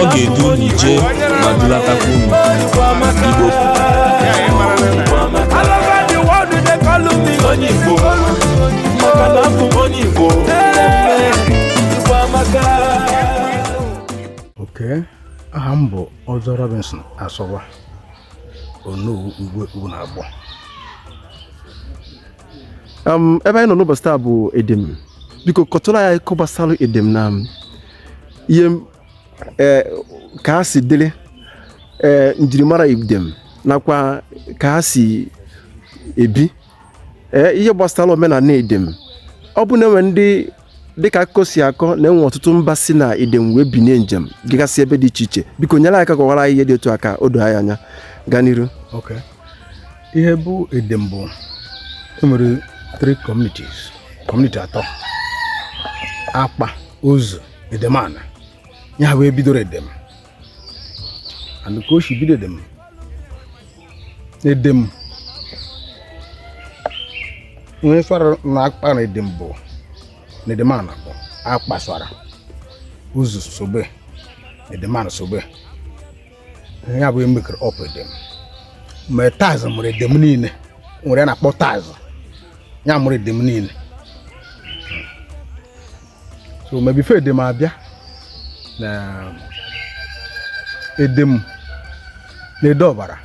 ọ ga-edu unu ije ma dulatakwa unu igbo onye igbo maka na abụ m onye igbo oke aha m bụ ọzọ robinson asogwa onowu igwe ugwunagbọ ebe anyị nọ n'ụbọchị taa bụ edem biko kọtụrụ anyị akụkọ gbasara edem na ihe e, ka ha si dịrị e, njirimara Edem nakwa ka ha si ebi e, ihe gbasara omenala Edem ọ bụ na enwe ndị dịka akụkọ si akọ na enwe ọtụtụ mba si na Edem wee binie njem jegasị ebe dị iche iche biko nyere aka kọwara anyị ihe dị otu a ka o doo anyị anya gaa n'iru ihe bụ edem bụ enwere three communities community atọ akpa ozi edem anị ya ha wee bidoro edem and ka o si bido edem edem onye swara na akpa na edem bụ na edem anị bụ akpa swara ozi sobe edem anị sobe ya bụ emekere ọpụ edem ma taz mụrụ edem niile nwere a na-akpọ taz ya mụrụ edem niile so ma before edem abịa na edem na ede ọbara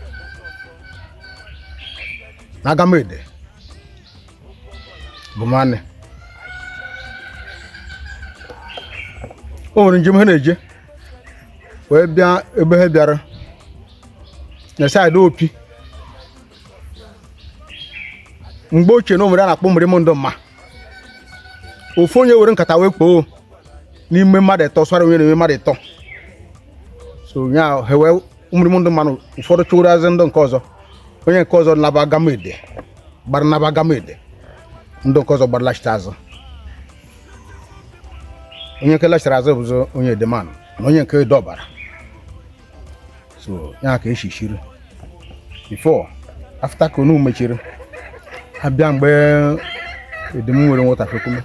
na agamede bụ nwanne o nwere njem ha na-eje wee bịa ebe ha bịara na side opi mgbe ochie na o nwere a na-akpọ mrịmụ ndụ mma ofu onye were nkata wee kpoo n'ime mmadụ ịtọ swara onye n'ime mmadụ ịtọ so ya ha wee mrịmụ ndụ mmanụ ụfọdụ chiri azụ ndụ nke ọzọ onye nke ọzọ naba agamede gbara naba agamede ndụ nke ọzọ gbara lachite azụ onye nke lachara azụ bụzị onye edem anị na onye nke ede ọbara so ya ka esi chiri before afụta ka onu mechiri abịa mgbe edem nwere nwatakịrị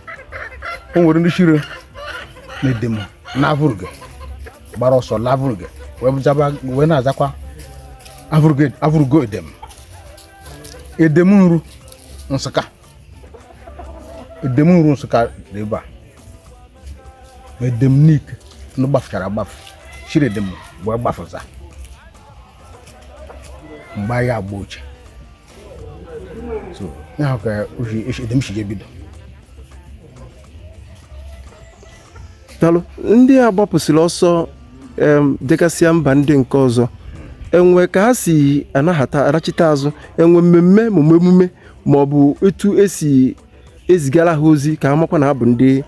o nwere ndị shiri na edem na avụrụgo gbara ọsọ la avụrụgo wee na-azakwa avụrụgo edem edem nru nsụka edem nru nsụka dị ebe a edem nike ndị gbafụchara agbafụ shiri edem wee gbafụsa mgbe anyị agba ochie so ya bụ ka edem si ebido daalụ ndị a gbapụsịrị ọsọ jegasịa mba ndị nke ọzọ e nwe ka ha si anachite azụ enwe mmemme ma emume ma ọ bụ etu esi ezigara ha ozi ka ha makwa na ha bụ ndị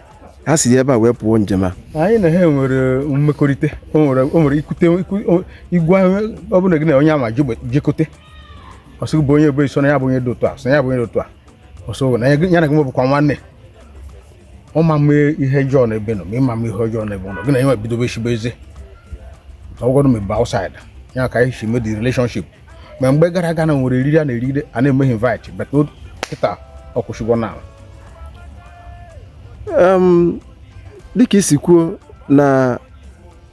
ha si ebe a wee pụọ njem a anyị na ha nwere mmekọrịta o nwere o nwere ikute iku- o- igwe ahụ ọ bụla gị na onye ama jegbe- jekọte ọ sị gị bụ onye ebe so na ya bụ onye dị otu a so na ya bụ onye dị otu a ọ sị na ya gị- ya na gị nwebụkwa nwanne ọ ma eme ihe ọjọọ na ebe ị nọ ma ị ma eme ihe ọjọọ na ebe ọ nọ gị na ya bidobe shibe ezi ọ bụgodu n'ebe outside ya ka anyị si mee the relationship ma mgbe gara aga na e nwere oriri a na-eri a na-emeghị invite but kịta ọ kwụsịgo n'ala dịka i si kwuo na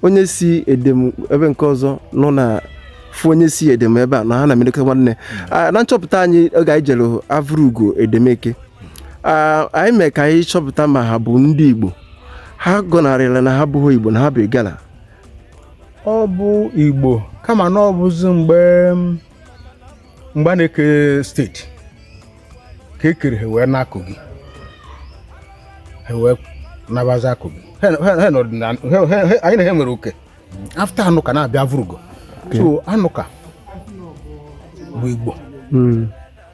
onye si edem ebe nke ọzọ nọ na-afụ onye si edem ebe a na ha na-eme dịka nwanne hmm. na nchọpụta anyị oge anyị jere avụrugo edem ka anyị mee ka anyị chọpụta ma ha bụ ndị Igbo ha gọnarịla na ha bụghị Igbo na ha bụ Igala ọ bụ igbo kama na ọ bụzi mgbe mgbe a na-eke state ka e kere ha wee naa kogi ha wee nabazi na kogi anyị na ha nwere oke after anụka na-abịa avụrụgo so anụka bụ igbo hmm.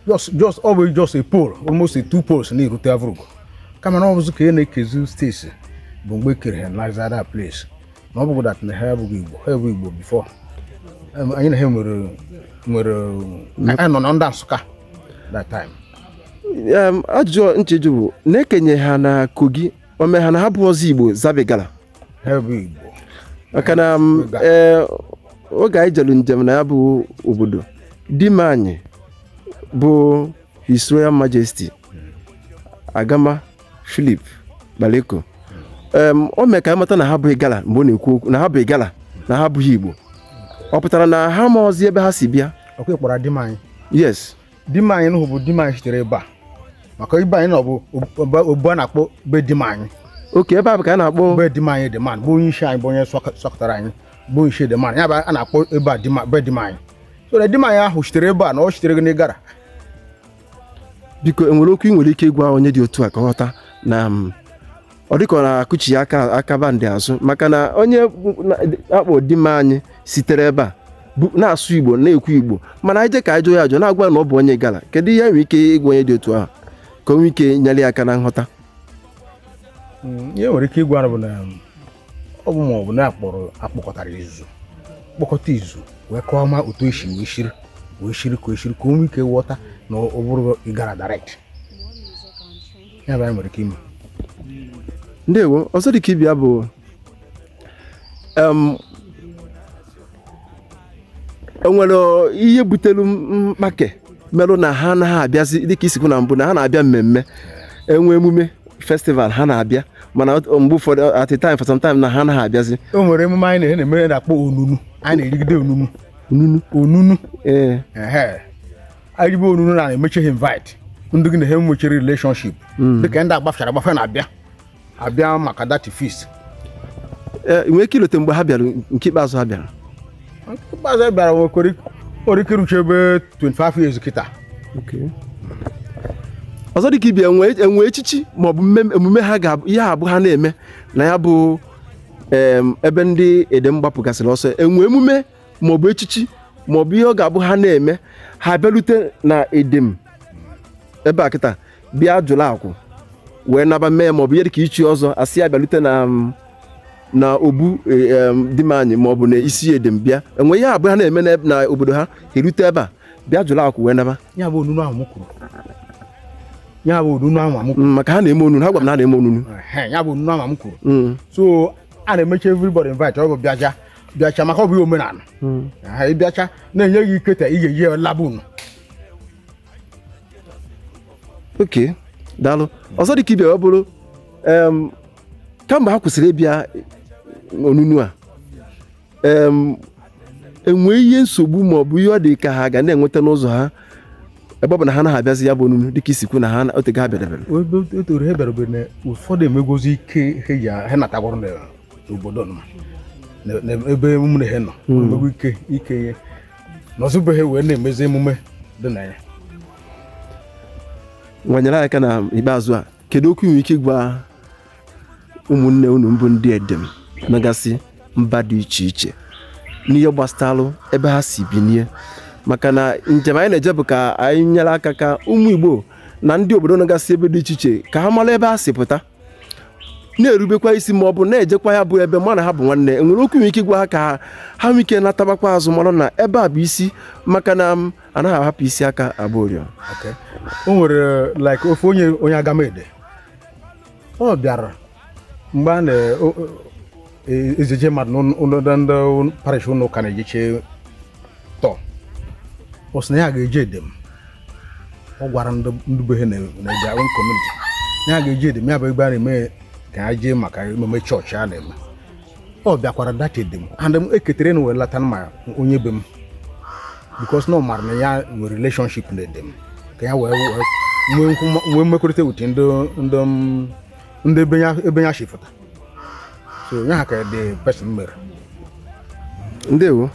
just just ọ bụ just a pole almost a two poles na-erute avụrụgo kama na ọ bụzi ka a na-ekezi state bụ mgbe e kere ha na that place na ọ bụghị that na ha abụghị igbo ha bụ igbo before anyị na ha nwere nwere anyị nọ na ndị nsụka that time ajụjụ ncheju bụ na e kenye ha na kogi o me ha na ha abụọzi igbo zaba Igala ha bụ igbo maka na e, oge anyị jere njem na ya bụ obodo dim anyị bụ His Royal Majesty Agama Philip Baleko em, o mee ka anyị mata na ha bụ Igala mgbe ọ na-ekwu okwu na ha bụ Igala na ha abụghị Igbo ọ pụtara na ha amaọzi ebe ha si bịa ọkwa ị kpọrọ dim anyị yes dim anyị nụhụ bụ dim anyị sitere ebe a maka be anyị na ọ bụ obu- obu a na-akpọ be dim anyị okay ebe a bụ ka a na-akpọ be dim anyị dim anyị bụ onye isi anyị bụ onye sọk- sọkọtara anyị bụ onye isi dim anyị ya bụ a na-akpọ ebe a dim- be dim anyị so na dim anyị ahụ sitere ebe a na ọ sitere n'Igala biko enwere okwu ị nwere ike ịgwa onye dị otu a ka ọ ghọta na ọ dịka ọ na-akụchi ya aka aka bandị azụ maka na onye na- akpọ Dimanyi sitere ebe a bu- na-asụ igbo na-ekwu igbo mana ị je ka ị jụọ ya ajụ na-agwa na ọ bụ onye Igala kedu ihe nwere ike ịgwa onye dị otu ahụ ka o nwee ike nyere ya aka na nghọta Mm, ihe nwere ike ịgwa bụ na um, ọ bụ ma ọ bụ na akpọrọ akpọkọtara izu kpọkọta izu wee kọọ ma otu esi wee shiri wee shiri ka eshiri ka o nwee ike ghọta na ọ bụrụ ịgara direct ya bụ anyị nwere ike ime ndewo ọzọ dị ka ibe ya bụ em, enwere ihe butere mkpake mere na ha anaghị abịazi dịka i si kwu na mbụ na ha na-abịa mmemme enwee emume festival ha na-abịa mana mgbe ụfọdụ at a time for some time na ha anaghị abịazi o nwere emume anyị na-eme na-eme na-akpọ onunu a na-erigide onunu onunu onunu ee eribe onunu na emechi ha invite ndị gị na ha enwechi relationship hmm. dịka ndị a gbafechara agbafe na-abịa abịa maka that feast ee nwee ike ilote mgbe ha bịara nke ikpeazụ ha bịara ikpeazụ anyị bịara nwekwere nwere ike irucha ebe 25 years kịta ọzọ dịka ibe ya enwe enwe echichi maọbụ mmem- emume ha ga ihe abụ ha na-eme na ya bụ em, ebe ndị edem gbapụgasịrị ọsọ enwe emume maọbụ echichi maọbụ ihe ọ ga-abụ ha na-eme ha bịarute na edem ebe a kịta bịa jụrụ akwụ wee naba mee maọbụ ihe dịka ichi ọzọ asị ya bịalute na um, na obu e, um, Dimanyi maọbụ na isi edem bịa enwe ihe abụọ ha na-eme n'eb- na obodo ha erute ebe a bịa jụrụ akwụ wee naba ya bụ onunu ahụ m kwuru ya bụ onunu ahụ m kwuru Mm, maka ha na-eme onunu ha gwara m na ha na-eme onunu Ehe, ya bụ onunu ahụ m kwuru Mm, so a na-emechi everybody invite ọ bụ bịacha bịacha maka ọ bụ ihe omenala mm. Aha, ị bịacha na-enye gị ikete ị ga-eji ya laa be unu ok daalụ ọzọ dị ka ibe ya bụrụ kemgbe ha kwụsịrị ịbịa onunu a enwe ihe nsogbu ma ọ bụ ihe ọ dị ka ha ga na-enweta n'ụzọ ha ebe ọ bụ na ha anaghị abịazi ya bụ onunu dịka i si kwu na ha otego ha bịadebere otoro ha bịarabere na ụfọdụ emegwozi ike ha natagwara n'obodo ebe ụmụnne ha nọ hmm. emegwo ike ike ihe nọzi be ha wee na-emezi emume dị na ya wee nyere ya aka na ikpeazụ a kedu okwu ị nwere ike ịgwa ụmụnne unu bụ ndị edem nọgasị mba dị iche iche n'ihe gbasara ebe ha si binie maka na njem anyị na-eje bụ ka anyị nyere aka ka ụmụ Igbo na ndị obodo nọgasị ebe dị iche iche ka ha mara ebe ha si pụta na-erubekwa isi ma ọ bụ na-ejekwa ya bụ ebe mụ na ha bụ nwanne o nwere okwu i nwere ike ịgwa ha ka ha ha nwee ike natabakwa azụ mara na ebe a bụ isi maka na m anaghị ahapụ isi aka agba ọriọ Okay. o nwere like ofu onye onye agamede ọ bịara mgbe a na o- o- ejeje mmadụ ndị parish ụlọ ụka na-ejeche tọ ọ sị na ya ga-eje edem ọ gwara ndị be ha na-eje own community na ya ga-eje edem ya bụ ebe a na-eme ka ya jee maka emume chọọchị a na-eme ọ bịakwara that edem and m eketere na wee lata ma onye be m because na ọ mara na ya nwere relationship na edem ka ya wee nwee mmekọrịta with ndị ndị ebe ya ebe ya shi fụta so ọ ya ka the person mere ndewo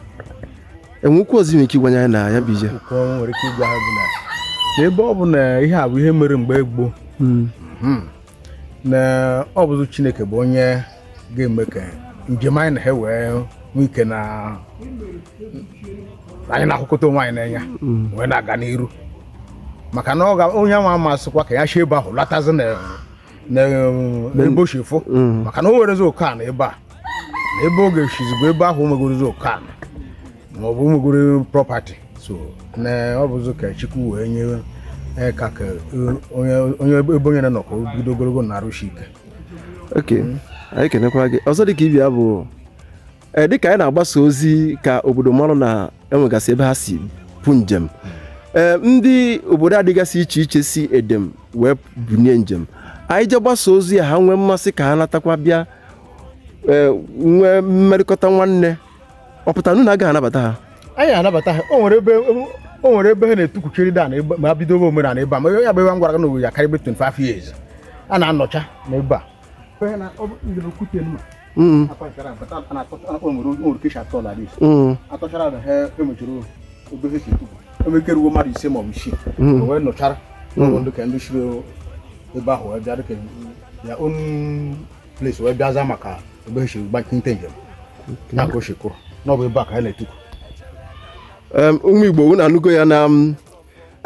o nwee okwu ọzọ i nwere ike ịgwanye anyị na ya bụ ije nke mụ nwere ike ịgwa ha bụ na na ebe ọ bụ na ihe a bụ ihe mere mgbe gboo na ọ bụzụ chineke bụ onye ga-eme ka njem anyị na ha wee nwee ike na anyị na-ahụkọta onwe anyị n'anya wee na-aga n'iru maka na onye nwa amasịkwa ka ya si ebe ahụ latazi n'ebe o shi fụ mm. maka na o nwerezi oke ana ebe a na ebe ọ ga-esizi bụ ebe ahụ o nwegorozi oke ana ma ọ bụ o nwegoro property so na ọ bụzi ka chukwu wee nye e, ka ka e, onye ebe onye na-anọ ka o bido ogologo na arụ isi ike okay anyị kenekwara gị ọzọ dị ka ibi ya bụ ee dịka anyị na-agbasa ozi ka obodo mara na enwegasị ebe ha si pụ njem ee ndị obodo a dịgasị iche iche si edem wee bunie njem anyị je gbasa ozi ya ha nwee mmasị ka ha natakwa bịa ee nwee mmerịkọta nwanne ọ pụtanụ na agaghị anabata ha anyị anabata ha o nwere ebe o nwere ebe ha na-etukwuchiri da na ebe ma bido omenala ebe a ma ya bụ ebe a m gwara gị na owe ya karịa ebe 25 years a na-anọcha na ebe a Mm. atọchara na ha emechiri obere si tupu eme ka e ruo mmadụ ise maọbụ isii mm. wee nụchara mm. n'ụlọ ndị ka ndị shiri ebe ahụ wee bịa dịka ya own place wee bịa za maka ebe e si gbakinta njem ya ka o si kwụrụ n'obu ebe a ka anyị na-etukwu ụmụ Igbo unu anụgo ya na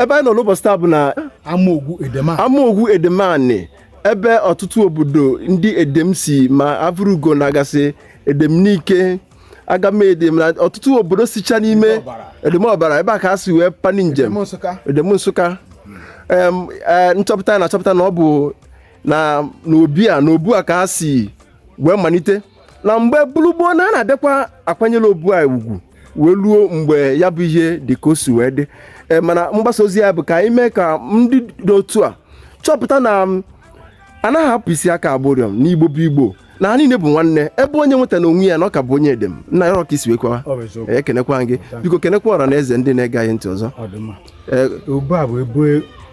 ebe anyị nọ n'ụbọchị taa bụ na amaogwu edem ani ebe ọtụtụ obodo ndị edem si ma avụrugo na agasị edem nike agamede na ọtụtụ obodo sicha n'ime edem ọbara ebe a ka a si wee pani njem edem nsụka e, nchọpụta na achọpụta na ọ bụ na n'obi a n'obu a ka a si wee malite na mgbe bụrụ gboo na a na-abịakwa akwanyere obu anyị ugwu wee ruo mgbe ya bụ ihe dị ka o si wee dị Ee, mana mgbasa ozi ya bụ ka anyị mee ka ndị dị otu a chọpụta na m, anaghị ahapụ isi aka agba ụrịọm na igbo bụ igbo na ha niile bụ nwanne ebe onye nweta na onwe ya na ọ ka bụ onye edem nna ya ọka isi wee kwawa Ọ bụ eziokwu. ekenekwa gị biko kenekwa ọra na eze ndị na-ege anyị ntị ọzọ Ọ dị mma. Ee, Ugbu a bụ ebe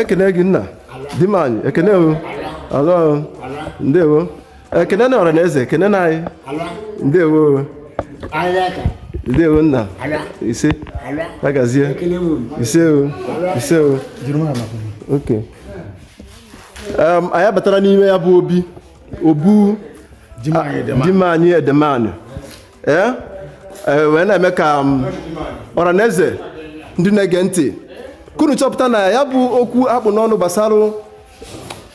ekene gị nna Dimanyi ekene o alụ ndewo ekene na ọra na eze ekene na anyị ndewo ndewo nna ise agazie ise o ise o ok anyị abatara n'ime ya bụ obi obu Dimanyi Edemani ee e, wee na-eme ka um, ọra na eze ndị na-ege ntị ka unu chọpụta na ya bụ okwu akpụ n'ọnụ gbasara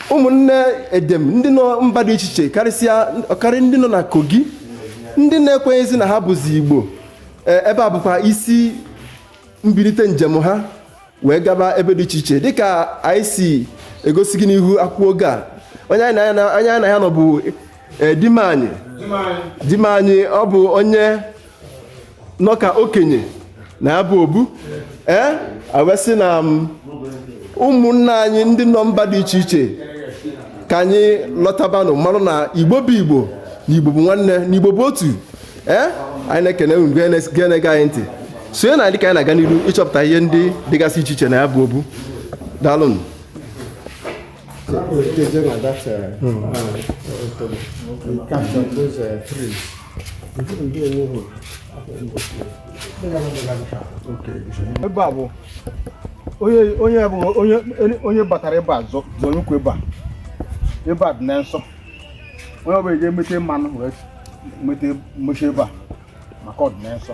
ụmụnne edem ndị nọ mba dị iche iche karịsịa ọkarị ndị nọ na kogi ndị na-ekwenyezi na ha bụzi igbo e, ebe a bụkwa isi mbilite njem ha wee gaba ebe dị iche iche dịka anyị si egosi gị n'ihu akwụkwọ oge a onye anyị na ya na- onye anyị na ya nọ bụ eh, Dimanyi Dimanyi ọ bụ onye nọ ka okenye na ya bụ obu ee a wee sị na m, ụmụnna anyị ndị nọ mba dị iche iche ka anyị lọtabanụ malụ na igbo bụ igbo na igbo bụ nwanne na igbo bụ otu ee eh? anyị na-ekene unu na-ege anyị ntị sonye na anyị ka anyị na-aga n'ihu ịchọpụta ihe ndị dịgasị iche iche na ya bụ obu daalụnụ ebe a bụ onye bụ onye batara ebe a zọrọ ụkwụ ebe a ebe a dị na nsọ onye ọbụla eji emete mmadụ wee nweta mmechi ebe a maka ọdịnihu nsọ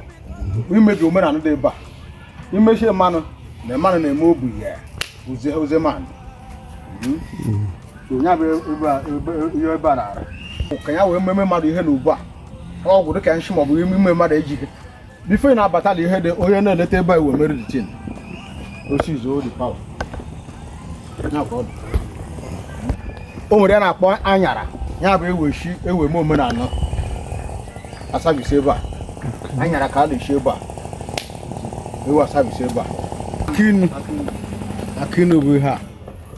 imebi omenala dị ebe a imechi mmadụ na mmadụ na-eme obu ya ozi ozi mmadụ onye abụ ebe a- ebe- ihe ebe a na-arụ ka ya wee mmemme mmadụ ihe na ugbu a ọgwụ dịka nshi maọbụ ime mmadụ ejighị before ị na-abatala ihe dị onye na-eleta ebe a e wee mere the thing osizo the power Ya ka ọ dị. o nwere ya na-akpọ anyara ya bụ eweshi ewe m omenala a-service ebe a anyara ka a na-eshi ebe a ewe a-service ebe a akinu akinu bụ ihe a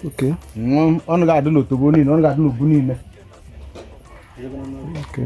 Okay. Nwa- ọnụ ga-adị n'otobo niile ọnụ ga-adị n'obu niile Okay.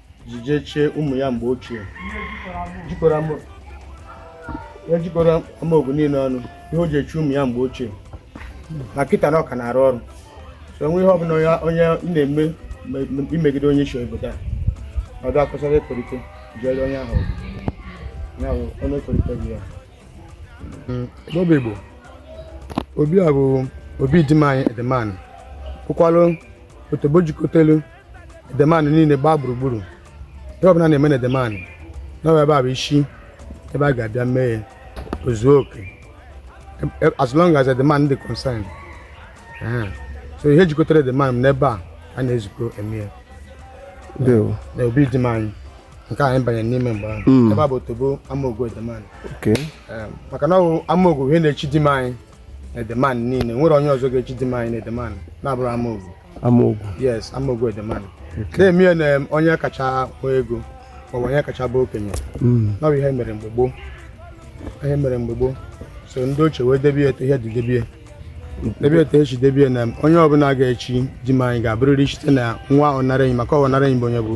ji jee chie ụmụ ya mgbe ochie jikọrọ ama ya jikọrọ Amaogu niile ọnụ ihe o ji echi ụmụ ya mgbe ochie ma kịta na ọ ka na-arụ ọrụ so e nwee ihe ọbụla onye onye ị na-eme me- me- imegide onye isi obodo a ọ bịa kwụsara ekorite jere onye ahụ ọgụ. ya bụ onye ekorite gị ya Bob Igbo obi a bụ obi Dimanyi Edemanị bụkwalụ otobo jikọtelu Edemanị niile gbaa gburugburu ihe ọbụla na-eme na Edemanị na ọ bụ ebe a bụ isi ebe a ga-abịa mee ya o zuo okay E- e- as long as Edemanị dị concern Ee. so ihe jikọtara Edemanị n'ebe a a na-ezukọ eme ya ndewo na obi Dimanyi nke anyị banyere n'ime mgbe ahụ Mm. ebe a bụ otobo Amaogu Edemanị okay Ee, maka na ọ bụ Amaogu ihe na-echi Dimanyi Edemanị niile nwerọ onye ọzọ ga-echi Dimanyi na Edemanị na-abụrọ Amaogu Amaogu yes Amaogu Edemanị na-emie na onye kacha nwee ego maọbụ onye kacha bụ okenye hmm. na ọ bụ ihe mere mgbe gboo ihe mere mgbe gboo so ndị ochie wee debie etu ihe dị debie debie etu e si debie na onye ọbụla ga-echi Dimanyi ga-abụrịrị site na nwa ọnara enyi maka ọnara enyi bụ onye bụ